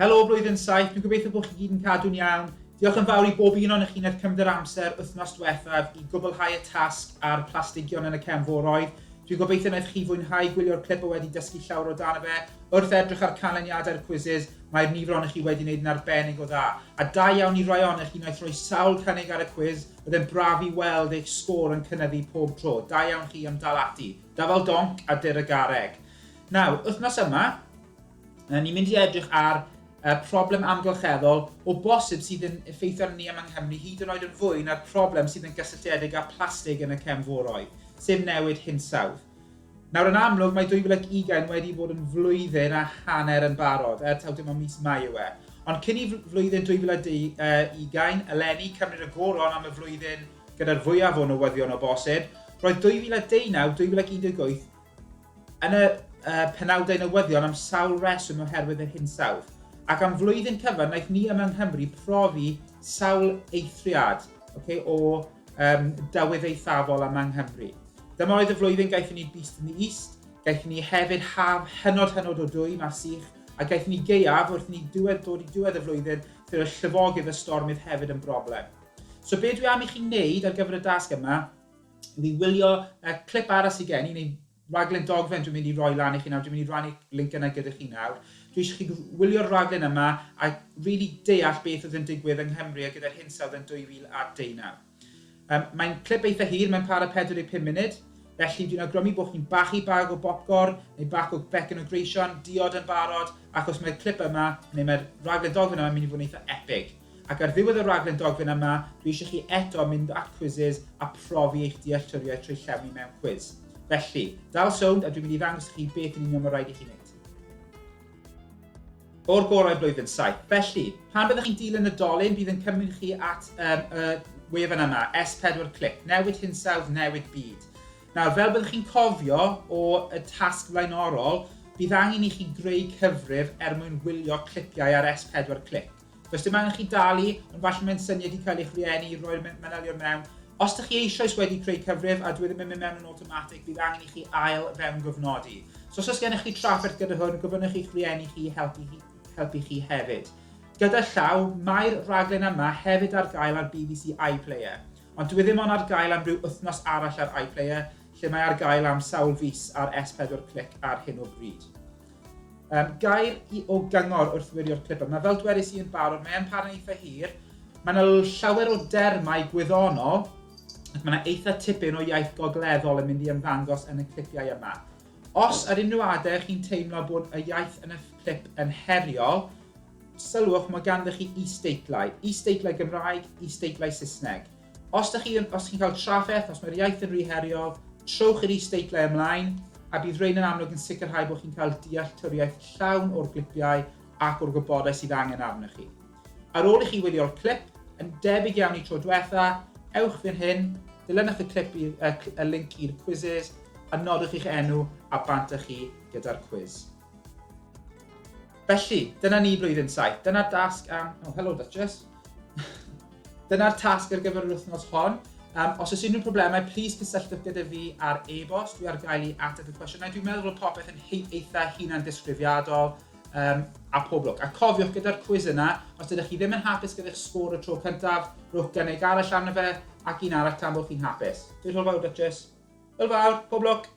Helo blwyddyn saith, dwi'n gobeithio bod chi gyd yn cadw'n iawn. Diolch yn fawr i bob un o'n chi wnaeth cymryd yr amser wythnos diwethaf i gwblhau y tasg a'r plastigion yn y cefn foroedd. Dwi'n gobeithio wnaeth chi fwynhau gwylio'r clip o wedi dysgu llawer o dan y fe. Wrth edrych ar canlyniadau'r quizzes, mae'r nifer ohonych chi wedi wneud yn arbennig o dda. A da iawn i rai ohonych chi wnaeth roi sawl cynnig ar y cwiz, oedd e'n braf i weld eich sgôr yn cynyddu pob tro. Da iawn chi am dal ati. Dyfal donc a dyr y garreg. Nawr, wythnos yma, Ry'n ni'n mynd i edrych ar y problem amgylcheddol o bosib sydd yn effeithio arno ni yma yng Nghymru hyd yn oed yn fwy na'r problem sydd yn gysylltiedig â phlastig yn y cefnforoedd, sef newid hinsawdd. Nawr, yn amlwg, mae 2020 wedi bod yn flwyddyn a hanner yn barod, er taw dim ond mis Mai yw e. Ond cyn i flwyddyn 2020 eleni cymryd y goron am y flwyddyn gyda'r fwyaf o newyddion o bosib, roedd 2019, 2018, Yn y uh, penawdau newyddion am sawl reswm oherwydd yr hinsawdd, ac am flwyddyn cyfan wnaeth ni yma yng Nghymru profi sawl eithriad okay, o um, dywydd eithafol yma yng Nghymru. Dyma oedd y flwyddyn gaethon ni Beast in the East, gaethon ni hefyd haf hynod hynod o dwy, mae'r sych, a gaethon ni geiaf wrth ni diwedd dod i diwedd y flwyddyn, lle oedd llifogydd y stormydd hefyd yn broblem. So be dwi am i chi wneud ar gyfer y dasg yma i fi wylio y clip arall sydd gen i, neu raglen dogfen dwi'n mynd i roi lan i chi nawr, dwi'n mynd i rannu link yna gyda chi nawr. Dwi eisiau chi wylio'r raglen yma a really deall beth oedd yn digwydd yng Nghymru a gyda'r hinsawdd yn 2019. Um, mae'n clip eitha hir, mae'n para 45 munud, felly dwi'n awgrymu bod chi'n bachu bag o bopcorn neu bac o becyn o greision, diod yn barod, achos mae'r clip yma, neu mae'r raglen dogfen yma, yn mynd i fod yn eitha epig. Ac ar ddiwedd y rhaglen dogfen yma, dwi eisiau chi eto mynd at Quizizz a profi eich dealltwriaeth trwy llewni mewn cwiz. Felly, dal sownd a dwi'n mynd i ddangos i chi beth yn union mae rhaid i chi wneud. O'r gorau blwyddyn saith. Felly, pan byddwch chi'n dilyn y dolyn, bydd yn cymryd chi at um, y wefan yma, S4 Click, newid hinsawdd, newid byd. Nawr, fel byddwch chi'n cofio o y tasg flaenorol, bydd angen i chi greu cyfrif er mwyn wylio clipiau ar S4 Click. Does dim angen chi dalu, ond falle mae'n syniad i cael eich rhieni i roi'r manylion mewn. Os ydych chi eisoes wedi creu cyfrif a dwi ddim yn mynd mewn yn awtomatig, bydd angen i chi ail fewn gyfnodi. So os oes gennych chi trafferth gyda hwn, gofynnwch i'ch rhieni chi helpu, helpu chi hefyd. Gyda llaw, mae'r rhaglen yma hefyd ar gael ar BBC iPlayer, ond dwi e ddim ond ar gael am rhyw wythnos arall ar iPlayer, lle mae ar gael am sawl fis ar S4 Click ar hyn o bryd. Um, gair i o gyngor wrth wirio'r clipper. Mae fel dwedais i yn barod, mae e'n parhau eitha hir. Mae yna llawer o dermau gwyddonol, ac mae yna eitha tipyn o iaith gogleddol yn mynd i ymddangos yn y clipiau yma. Os ar unrhyw adeg chi'n teimlo bod y iaith yn y clip yn heriol, sylwch mae ganddo chi is-deitlau. Is-deitlau Gymraeg, is-deitlau Saesneg. Os dych chi yn, os chi'n cael trafferth, os mae'r iaith yn rhy heriol, trowch i'r is-deitlau ymlaen, a bydd rhein yn amlwg yn sicrhau bod chi'n cael dealltwriaeth llawn o'r glipiau ac o'r gwybodaeth sydd angen arnoch chi. Ar ôl i chi wylio'r clip, yn debyg iawn i tro diwetha, ewch fan hyn, dilynwch y clip i'r, y, y link i'r quizzes, a nodwch i'ch enw a bant â chi gyda'r cwiz. Felly, dyna ni blwyddyn saith. Dyna'r dasg am... Oh, hello Duchess. Dyna'r tasg ar gyfer yr wythnos hon. Um, os oes unrhyw problemau, plis cysylltwch gyda fi ar e-bost. Dwi ar gael i ateb y cwestiynau. Dwi'n meddwl bod popeth yn eitha hunan disgrifiadol um, a pob lwc. A cofiwch gyda'r cwiz yna, os ydych chi ddim yn hapus gyda'r sgôr y tro cyntaf, rhywch gynnig arall arno fe ac un arall tan bod chi'n hapus. Dwi'n rhywbeth fawr, Duchess. Hwyl fawr, pob lwc!